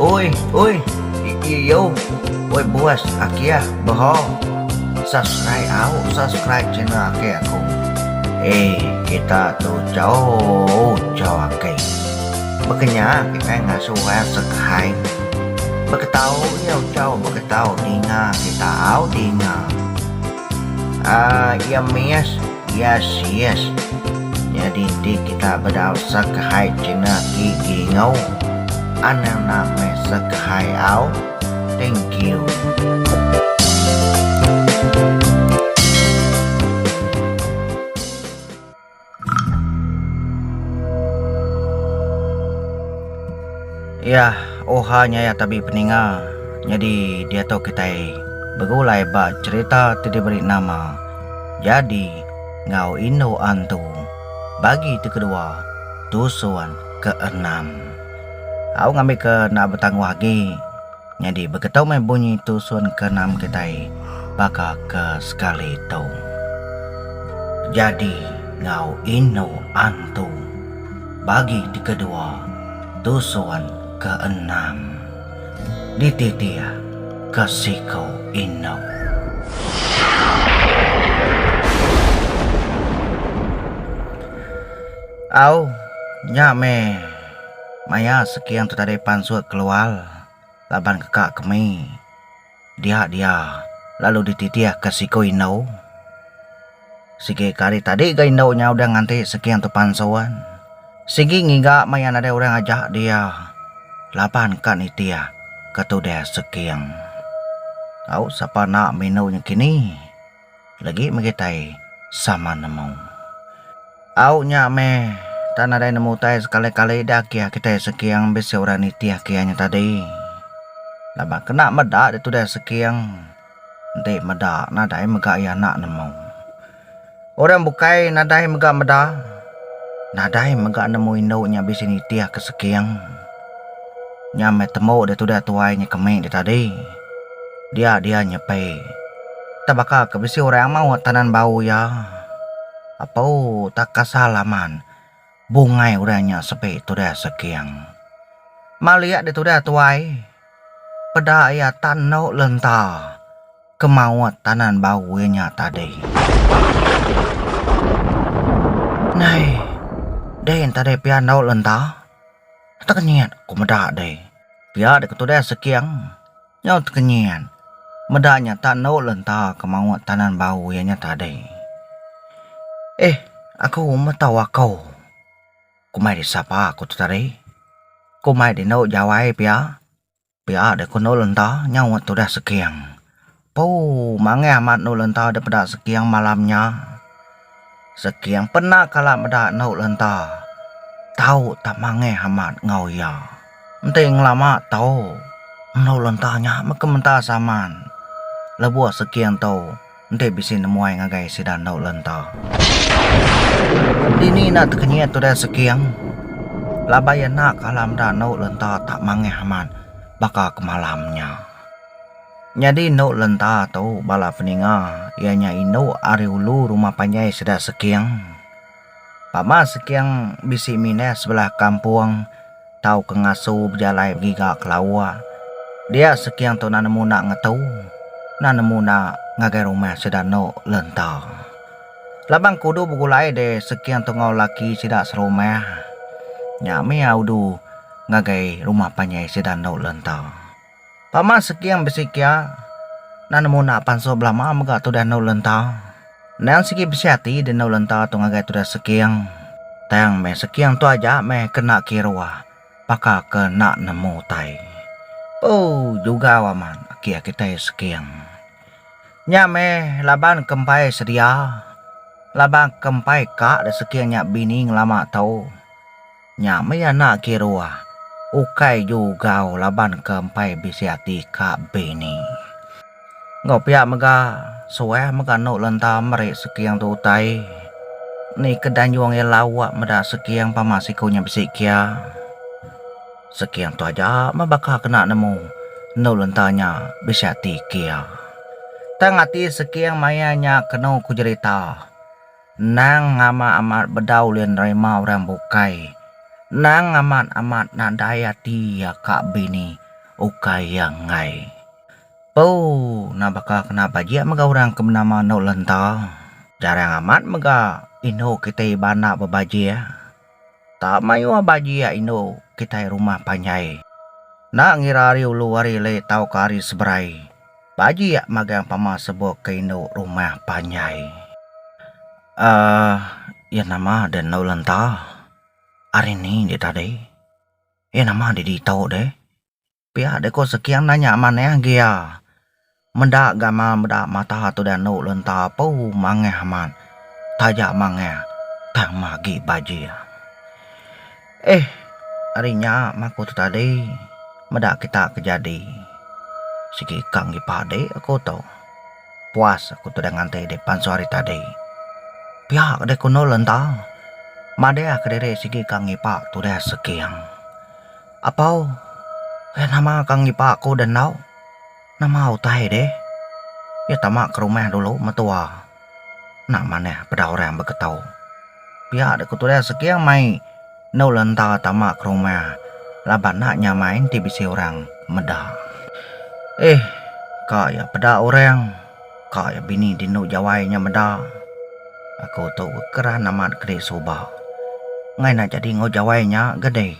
Oi, oi, iiu, oi buas aki ah bro, subscribe au, subscribe channel aki aku. Eii kita tu jauh jauh aki. Bekenya kitai ngasuh ai subscribe. Beketau iu tau beketau dinga kita au dinga. Aa iya miss yes yes nyadi ti kita bedau sekehai cina gigi ngau anang na meh sekehai au thank you. Iya, oha nyaya tabi peninga. Nyadi diatu kitai begulai ba cherita ti diberi nama Jadi enggau Indu Antu bagi ti kedua tusun keenam. Au ngambika enda betangguh agi. Nyadi begetu meh bunyi tusun ke enam kitai baka ke sekali tu. Jadi enggau indu antu. Bagi ti kedua tusun ke enam dititih ke siku indu. Au, nya meh. Maya sekian tu tadi pansut keluar laban ke ka kemi dia dia lalu dititih ke siku indu sigi ke hari tadi ga indu nya udah nganti sekian tu pansut sigi ngiga maya nadai orang aja dia laban ka nitih ke tudah seking au sapa nak minu nakini. Legi mega tai sama nemu. Au nya meh tak nadai nemu tai sekali-kali dah kia kitai Seking bisi orang nitih kia nya tadi. Laban kena meda ditu deh Seking enti meda nadai mega iya enda nemu. Orang bukai nadai mega meda nadai mega nemu indu nya bisi nitihka Seking. Nya meh temu dia tudah tuai nya kemi dia tadi. Dia dia nyepi. Tah baka ke bisi orang amau ati tanan bau iya. Apu tak kasal aman bungai orang nya sepi tudah seking. Malik dia tudah tuai peda iya tak enu lenta ke maut tanan bau iya nya tadi. Nai dei enti dei pian enu lenta. Tekenyit ku meda deh. Pia deh ketudah seking nyau tekenyit. Meda nya tak endo le enta ke maoh tanan bau iya nya tadi. Eh aku meh tau akou. Komai di sapa aku tu tadi. Komai di endo jawai pia. Pia deh ku endur lenta nyau wak tudah seking puu manggeh amat endur lenta deh peda seking malam nya seking pena kala meda endur lenta tau tak manggeh amat enggau ia enti ngelama tau endur lenta nya meka menta saman lebuh seking tu Enti bisi nemuai ngagai sida endu lenta. Dini enda tekenyit udah seking laban iya enda kala meda endu lenta tak mangih amat baka ke malam nya. Nyadi endu lenta tu bala peninga iya nya indu ari ulu rumah panjai sida seking. Pama Sekiang bisi minah sebelah kampung tauka ngasu bejalai begiga ke lawa. Dia Sekiang tu na nemu na ngetu na nemu na ngagai rumah sida eno lenta. Labang ke udu begulai de Sekiang tu enggau laki sida serumah nya mih iya udu ngagai rumah panjai sida eno lenta. Pama Seking bisi kia nan nemu enda pansu belama mega tudah endur lenta. Endang sigi bisi ati deh endur lenta tu ngagai tudah Seking. Tang meh Seking tu aja meh ke enda kiruh baka ke enda nemu utai. Ooh jugau amat agi kitai Seking. Nya meh laban ke empai sedia laban ke empai ka deh Seking nya bini ngelama tu. Nya mih anak ke dua. Ukai jugau laban ke empai bisi ati ka bini. Enggau pia mega suah mega anu lenta meri seking tu utai. Ni ke dan juang iya lawa meda seking pama siku nya bisi kia. Seking tu aja meh baka kena nemu anu lenta nya bisi ati kia. Tang ati seking maya nya kenu ku jerita. Endang amat amat bedau ulih nerima orang bukai. Endang amat amat nadai ati iya ka bini ukai iya enggai. Puu nah baka kena bajik mega orang ke benama Endok Lenta. Jarang amat mega indu kitai ba enda bebajik. Tak mayuh bagi iya indu kitai rumah panjai. Enda ngira ari ulu ari lei tauka ari seberai, bagi iya magang pama sebok ke indu rumah panjai. Aaa iya nama deh endu lenta? Ari ni deh tadi? Iya nama deh ditu deh? Pia deh ko seking da nya manah gia. Meda gamal meda mata tu da anu lenta pu mangah amat taja mangah tang ma agi bajik. Eh ari nya maku tu tadi meda kita ke jadi sigi ka ngi padi aku tu puas aku tu da nganti di pansut hari tadi. Pia deh ko endur lenta madahka diri sigi ka ngipa tudah seking. Apau, eh nama ka ngipa aku da enda? Nama utai deh? Iya tama ke rumah dulu metua. Enda manah peda orang beketo. Pia deh ku tudah Seking mai endu lenta tama ke rumah laban enda nyamai enti bisi orang meda. Eh, ka iya peda orang, ka iya bini di endu jawai nya meda. Aku tu ke keran amat ke disuba. Enggai enda jadi enggau jawai nya ke deh.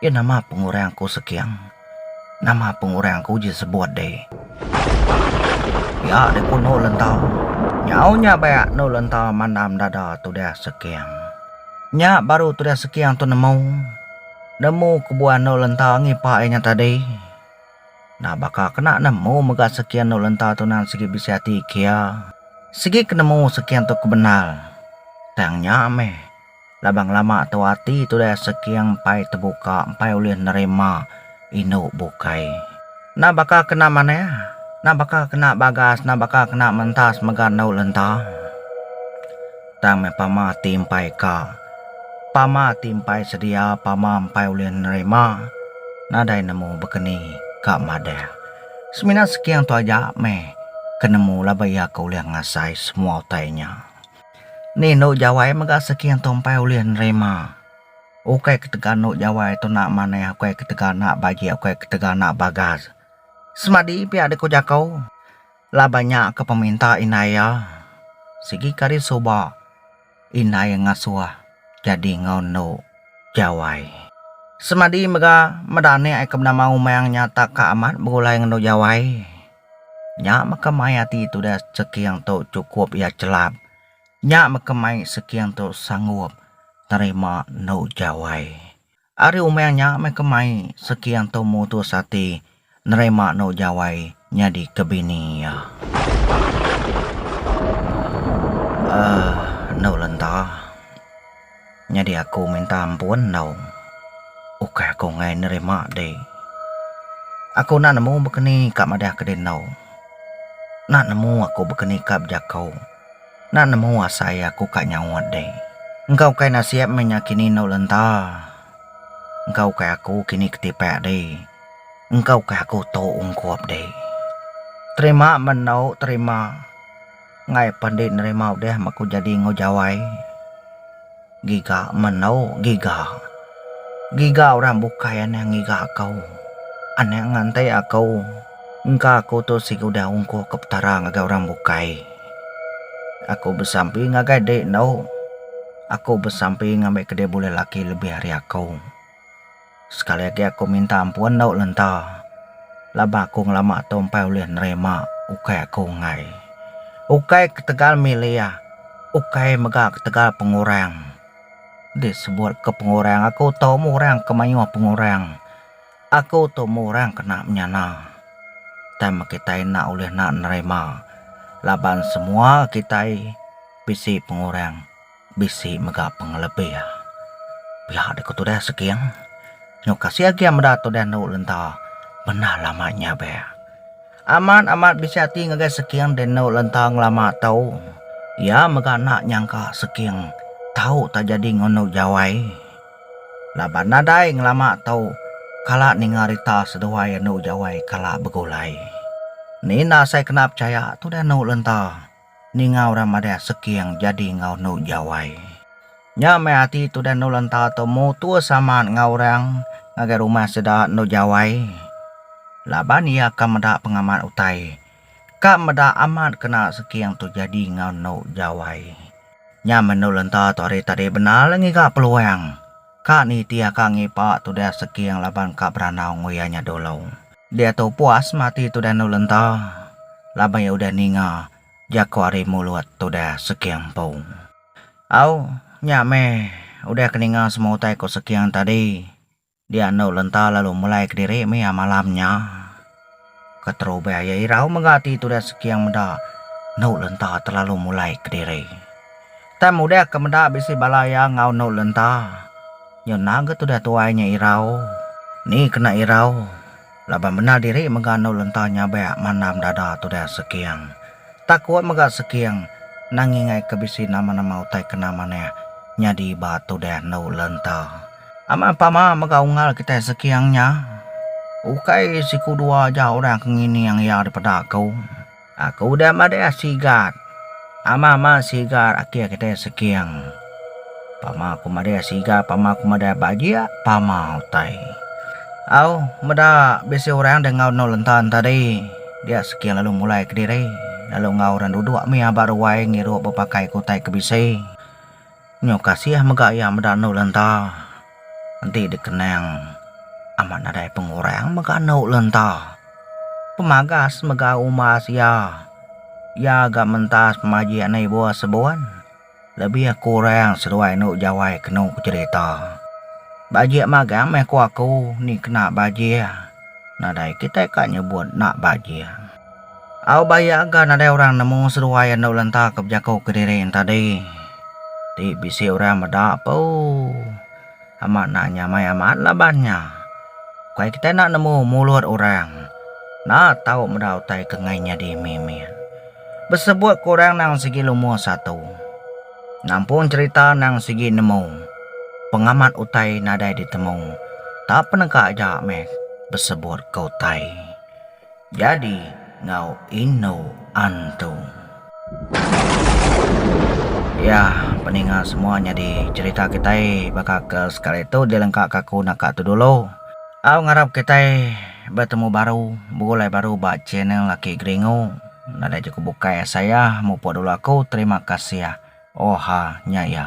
Ye nama pengurang aku seking. Nama pengurang aku uji sebut de. Yak de ku no lenta. Nyau nya bayak no lenta mandam dada tudah seking. Nya baru tudah seking tu nemu. Nemu kebuan no lenta ngipak ye nya tadi. Nah baka kena nemu mega seking no lenta tu nan sigi bisi ati kia. Sigi ke nemu seking tu ke bendar. Tang nya meh. Laban ngelama tu ati tudah Seking empai tebuka empai ulih nerima indu bukai. Enda baka kena manah, enda baka kena bagas, enda baka kena mentas mega endu lenta. Tang meh pama ti empai ka, pama ti empai sedia, pama empai ulih nerima nadai nemu bekeni ka madah. Semina Seking tu aja meh ke nemu laban iya ke ulih ngasai semua utai nya. Ni endo jawai mega seki ngan tompai ulih nerima ukai ketegal endo jawai tuna manah ukai ketegal enda bagi ukai ketegal enda bagas semadi pia da ku jaku laban nya ke peminta indai iya sigi kadi suba indai ngasuh jadi enggau endo jawai semadi mega meda anek ke menama umang nya tak ka amat begulai ngan endo jawai. Nya mega mai ati tudah seking tu chukup iya chelap. Nya mega mai seking tu sanggup nerima endo jawai. Ari umang nya mega mai seking tu mutus ati nerima endo jawai nyadi ke bini iya. Aaa endo lenta. Nyadi aku minta ampun enggau ukai aku enggai nerima dih. Aku enda nemu bekeni ka madahka dih enggau enda nemu aku bekeni ka bejako. Enda nemu asa iya aku ka nyaut dih. Engka ukai nasib meh nya kini enggau lenta. Engka ukai aku kini ke tipak dih. Engka ukai aku tu ungkup dih. Terima meh enggau terima. Ngai pandi nerima udah meh aku jadi enggau jawai. Giga mendau giga. Giga orang bukai anang ngiga aku. Anang nganti aku. Engka aku tu sigi udah ungkuh ke petara ngagai orang bukai. Aku besampi ngagai dek endu. Aku besampi ngambi ke dek bulai laki lebih ari aku. Sekali agi aku minta ampun dau lenta laban aku ngelama tu empai ulih nerima ukai aku enggai. Ukai ketegal milih, ukai mega ketegal pengurang. Di sebut ke pengurang aku tu meh orang ke mayuh pengurang. Aku tu meh orang kena menyana. Tang meh kitai enda ulih nerima laban semua kitai bisi pengurang. Bisi mega pengelebih. Pia deh ku tudan Seking. Nyau kasih agi a meda tudan tu lenta bendar lama nya be. Amat amat bisi ati ngagai Seking deh enu lenta ngelama tu. Iya mega enda nyangka Seking tau tak jadi ngunu jawai. Laban nadai ngelama tu kala ninga rita seduai enu jawai kala begulai. Ni enda sai kena pechaya tudan enu lenta. Ninga orang madah seking jadi enggau endu jawai. Nya meh ati tudan endu lenta tu mutus amat enggau orang ngagai rumah sida endu jawai laban iya ka meda pengamat utai ka meda amat kena seking tu jadi enggau endu jawai. Nya meh endu lenta tu hari tadi bendar la ngiga peluang ka nitih ka ngipa tudah seking laban ka berandau enggau iya nya dulu. Diatu puas mati tudah endu lenta laban iya udah ninga jaku ari mulut tudah Sekiang empu. Au, nya meh, udah ke ninga semua utai ku Sekiang tadi, dia endu lenta lalu mulai kediri mia malam nya. Keterubah iya irau mega ati tudah Sekiang meda endu lenta terlalu mulai kediri. Tam udah ke meda bisi bala iya enggau endur lenta. Nyu endang ke tudah tuai nya irau. Ni kena irau, laban bendar diri mega endur lenta nyabak mandam dada tudah Seking. Takut mega Seking endang ingai ke bisi nama-nama utai kena manah nyadi ba tudah endur lenta. Amat pama mega unggal kitai Seking nya. Ukai siku dua aja orang ke ngining iya dipeda ku. Aku udah madah sigat. Amah mah sigat akih kitai seking. Pama aku madah sigat pama aku madah bajik pama utai. Au meda bisi orang deh enggau endur lentan tadi dia seking lalu mulai kediri lalu enggau orang duduk mih aba ruai ngirup bepakai utai ke bisi. Nyu kasih mega iya meda enu lenta. Enti dikenang amat nadai pengurang mega enu lenta. Pemagas mega umbas iya. Iya ga mentas pemajik nei bua sebun lebih kurang seduai enu jawai kenu pejerita. Bajik magang meh ku aku ni kena bajik nadai kitai ka nyebut enda bajik. Au ba iya ga nadai orang nemu seduai enda lenta ke bejako kediri tadi ti bisi orang meda puu amat nak nyamai amat laban nya ukai kitai nak nemu mulut orang nak tau meda utai ke ngai nyadi mimit besebut ke orang nang sigi lumuh satu nampung cerita nang sigi nemu pengamat utai nadai ditemu tak peneka ja meh besebut ke utai. Jadi ngau indu antu. Ya peninga semua nyadi cerita kitai baka ke sekali tu dilengka ka aku naka tu dulu. Au ngarap kitai betemu baru begulai baru ba channel laki geringu. Nadai jeku bukai asai ah mupuk dulu aku terima kasih. Oha nya iya.